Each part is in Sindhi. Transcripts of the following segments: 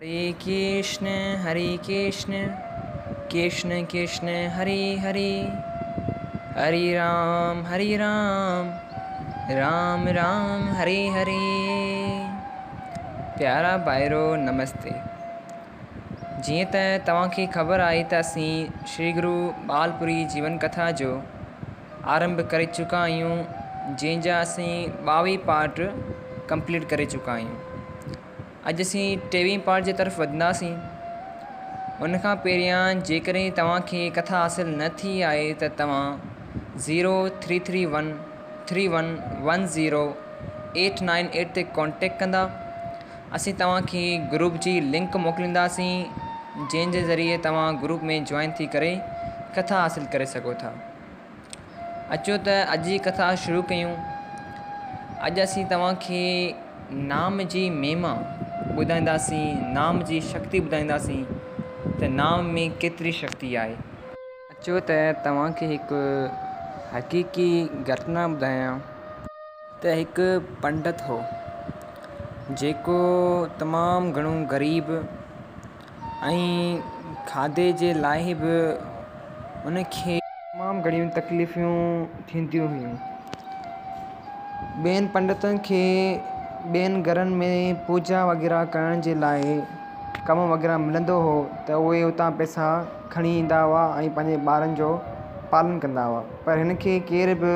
هري ڪرشن هري ڪرشن ڪرشن ڪرشن هري هري هري رام هري رام رام رام هري هري پيارا ڀائرو نمستي جيئن ته توهان کي خبر آهي ته اسين شري گرو ٻال پوري جيون ڪٿا جو آرنڀ ڪري چڪا آهيون جنهن جا اسين ٻاويهه پارٽ ڪمپليٽ ڪري چڪا آهيون اڄ اسين ٽيوين پارٽ جي طرف وڌنداسين. ان کان پهريان جيڪڏهن توهان کي ڪٿا حاصل نه ٿي آهي ته توهان zero three three one three one one zero eight nine eight تي ڪانٽيڪٽ ڪندا. اسين توهان کي گروپ جي لنڪ موڪلينداسين جنهن جي ذريعي توهان گروپ ۾ جوائن ٿي ڪري ڪٿا حاصل ڪري سگهو ٿا. اچو ته اڄ جي ڪٿا شروع ڪيون. اڄ اسين توهان کي نام جي مهما ٻڌائينداسين، نام جي شڪتي ٻڌائينداسين ته نام ۾ ڪيتري شڪتي آهي. اچو ته توهان کي هڪ حقيقي گهٽنا ٻڌايان ته هڪ پنڊت هو جيڪو تمام گهڻو غريب. ۽ کاڌي جي لاء به ان کي تمام گهڻيون تڪليفون ٿينديون هيون ٻين پنڊتن کي ٻين گهرن ۾ پوڄا وغيره ڪرڻ جي لاء ڪم وغيره ملندو هو ته اهي اتان پئسا کڻي ايندا هئا ۽ پنهنجي ٻارن جو پالن ڪندا هئا پر هن کي ڪير به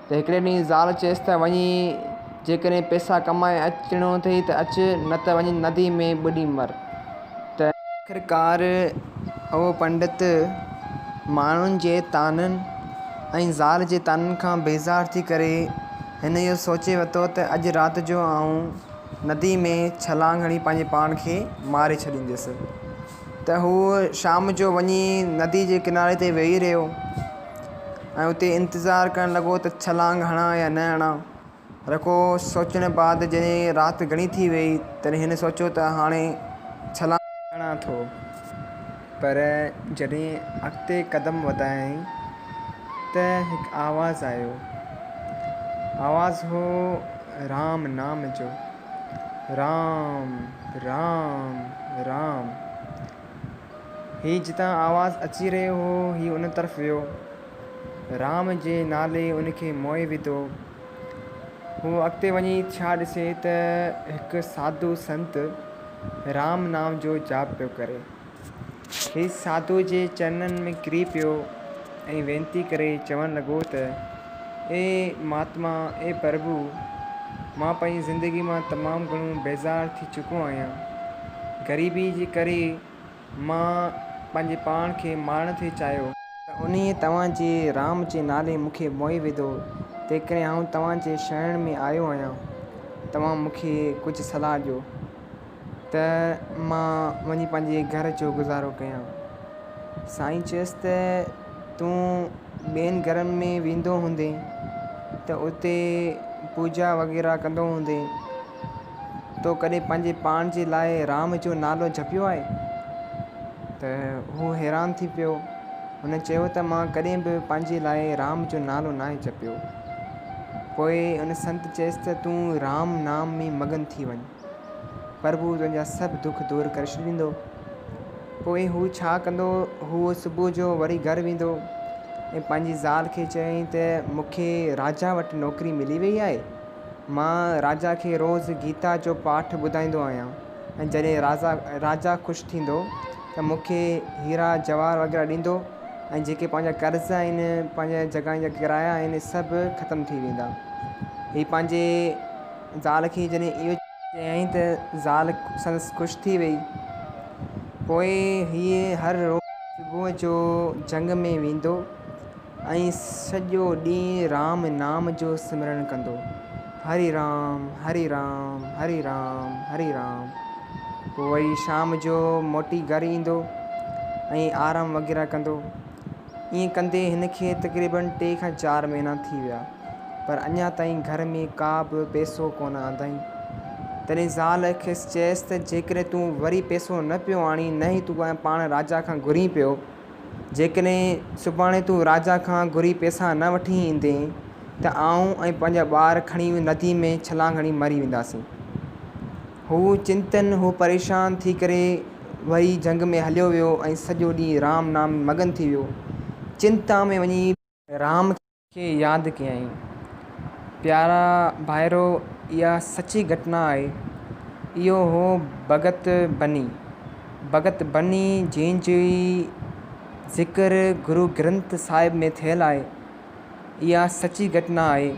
ته هڪڙي ڏينهن زال چيس ته وڃي جيڪڏهن پئسا ڪمائي اچڻو اٿئي ته اچ نه ته وڃي ندي ۾ ٻڏي مر ته آخرڪار اهو پنڊت ماڻهن جي طعنن ۽ زال جي طعنن کان بيزار ٿي ڪري هن اهو سوچي ورتو ته اڄ رات جو آئون ندي ۾ ڇلانگ هڻي پنهنجي پاڻ کي ماري ڇڏينديس ته هو شام جو وڃي ندي جي ڪناري تي ويهي رهيو ۽ اتي انتظار ڪرڻ لڳو ته ڇلانگ هڻان يا نه هڻان رکو سوچڻ بعد جڏهن رات گهڻي ٿي وئي تڏهن هن سوچيو ته هاڻي ڇلانگ هڻان ٿو پر جڏهن اڳتي قدم وڌايائين ته هڪ آواز آيو آواز هو رام نام جو رام رام رام. هي جتان آواز اچي رهيو هو، هي ان طرف ويو. رام جي نالي ان کي موهي وڌو. هو اڳتي وڃي ڇا ڏسي ته هڪ ساڌو سنت رام نام جو جاپ پيو ڪري. هي ساڌوء جي چرنن ۾ ڪري پيو. ۽ وينتي ڪري چوڻ لڳو ته، اي مھاتما، اي پرڀو، مان پنھنجي زندگي مان تمام گھڻو بيزار ٿي چڪو آھيان. غريبيء جي ڪري مان پنھنجي پاڻ کي مارڻ ٿي چاھيو. ته انھيء توھان جي رام جي نالي مون کي موھي وڌو، تنھنڪري آئون توھان جي شرڻ ۾ آيو آھيان. توھان مون کي ڪجھه صلاح ڏيو. ته مان وڃي پنهنجي گهر جو گذارو ڪيان. سائين چيس ته تون ٻين گهرن ۾ ويندو هوندين ته اتي پوڄا وغيره ڪندو هوندين. تو ڪڏهن پنهنجي پاڻ جي لاء رام جو نالو جپيو آهي؟ ته هو حيران ٿي پيو. هن چيو ته مان ڪڏهن به پنهنجي لاء رام جو نالو ناهي جپيو. پوء ان سنت چيس ته تون رام نام ۾ مگن ٿي وڃ. پرڀو تنهنجا سڀ دک دور ڪري ڇڏيندو. پوء هو ڇا ڪندو؟ هو صبح جو وري گهر ويندو ۽ پنهنجي زال کي چوين ته مون کي راجا وٽ نوڪري ملي وئي آهي. مان راجا کي روز گيتا جو پاٺ ٻڌائيندو آهيان ۽ جڏهن راجا خوش ٿيندو ته مون کي هيرا جواهر وغيره ڏيندو ۽ جيڪي پنهنجا قرض آهن، پنهنجي جڳهن جا ڪرايا آهن، سڀ ختم ٿي ويندا. هي پنهنجي. زال کي جڏهن اهو چيائين ته زال سندس خوش ٿي ويئي. پوء هيء هر روز صبح جو جهنگ ۾ ويندو ۽ سڄو ڏينهن رام نام جو سمرڻ ڪندو، هري رام، هري رام، هري رام، هري رام. پوء وري شام جو موٽي گهر ايندو ۽ آرام وغيره ڪندو. ائين ڪندي هن کي تقريباً ٽي کان چار مهينا ٿي ويا، پر اڃا تائين گهر ۾ ڪا به پئسو ڪونه آندائين. تڏهن زال کيس چيس ته جيڪڏهن تون وري پئسو نه پيو آڻين، نه ئي تون پاڻ راجا کان گهرين پيو، جيڪڏهن سڀاڻي تون راجا کان گهري پئسا نه وٺي ايندين، ته آئون ۽ پنهنجا ٻار کڻي نديء ۾ ڇلانگ هڻي مري وينداسين. هو چنتن هو پريشان ٿي ڪري وري جهنگ ۾ هليو ويو ۽ سڄو ڏينهن رام نام ۾ مگن ٿي ويو. چنتا ۾ وڃي. رام کي ياد ڪيائين. پيارا ڀائرو اها سچي گهٽنا آهي. اهو هو ڀڳت بني. ڀڳت بني جنهن جي ذڪر گرو گرنٿ صاحب ۾ ٿيل آهي. اها سچي گهٽنا آهي.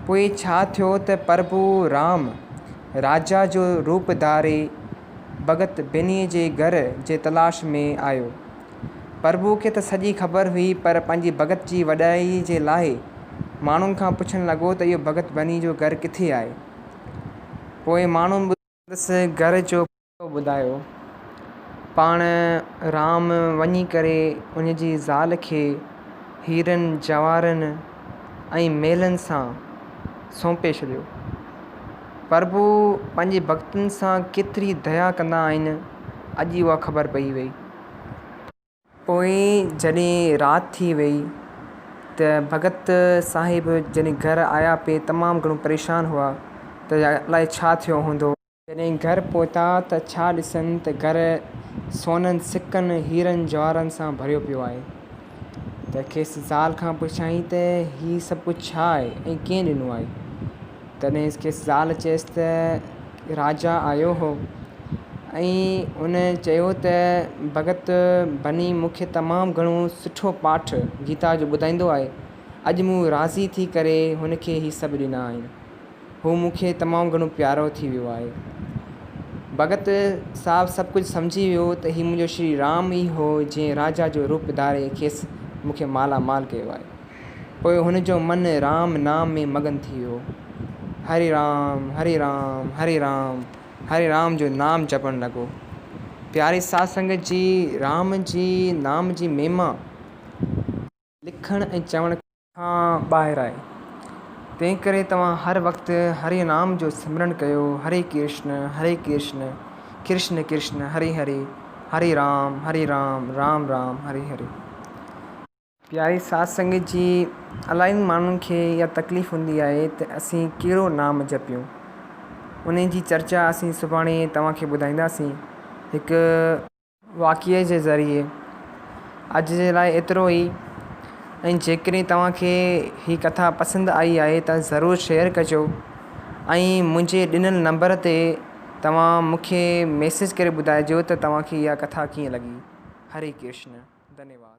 پوء ڇا ٿيو ته پرڀو رام راجا جو روپ ڌاري ڀڳت ڀينيء جي گهر جي تلاش ۾ آيو. پرڀو کي ته سڄي خبر هئي پر پنهنجي ڀڳت جي وڏائيء جي لاء ماڻهن کان پڇڻ لڳو ته اهو ڀڳت ڀينيء جو گهر ڪٿي آهي؟ پوء ماڻهن ٻڌو. سندس گهر جو اهو ٻڌايو پاڻ رام وڃي ڪري ان جي زال کي هيرن جواهرن ۽ ميلن سان سونپي ڇڏيو. پرڀو پنهنجي ڀڳتن سان ڪيتري ديا ڪندا آهن اڄ اها خبر پئي وئي. پوء جڏهن رات ٿي وئي ته ڀڳت صاحب جڏهن گهر آيا پي تمام گهڻو پريشان هئا ته الائي ڇا ٿيو هوندو. جڏهن گهر پهتا ته ڇا ڏسن ته گهر سونن سڪن، هيرن جواهرن سان ڀريو پيو آهي ته کيس زال کان پڇيائين ته هي سڀ ڪجهه ڇا آهي ۽ ڪنهن ڏنو آهي؟ تڏهن کيس زال چيس ته راجا آيو هو ۽ ان چيو ته ڀڳت ڀني مون کي تمام گهڻو سٺو پاٺ گيتا جو ٻڌائيندو آهي، اڄ مون راضي ٿي ڪري هن کي هي سڀ ڏنا آهن. هو مون کي تمام گهڻو پيارو ٿي ويو آهي. ڀڳت صاحب سڀ ڪجهه سمجهي ويو ته هي منهنجو شري رام ئي هو جنهن راجا جو روپ ڌاري کيس مون کي مالا مال ڪيو آهي. پوء هن جو من رام نام ۾ مگن ٿي ويو. هري رام هري رام هري رام هري رام جو نام جپڻ لڳو. پياري ساڌ سنگت جي رام جي نام جي مهما. لکڻ ۽ چوڻ کان ٻاهر آهي تنهنڪري توهان هر وقت هري نام جو سمرڻ ڪيو هري ڪرشن هري ڪرشن ڪرشن ڪرشن هري هري هري رام هري رام رام رام هري هري. پياري ساڌ سنگت جي الاهين ماڻهن کي اها تڪليف هوندي آهي ته اسين ڪهڙو نام جپيون انهي جي چرچا اسين سڀاڻي توهان کي ٻڌائينداسين هڪ. واقعي جي ذريعي اڄ جي لاء ايترو ئي ۽ جيڪڏهن توهان کي هي ڪٿا پسند آئي آهي ته ضرور شيئر ڪجو ۽ منهنجي ڏنل نمبر تي توهان مون کي ميسيج ڪري ٻڌائجو ته توهان کي اها ڪٿا ڪيئن لڳي هري ڪرشن ڌنيواد.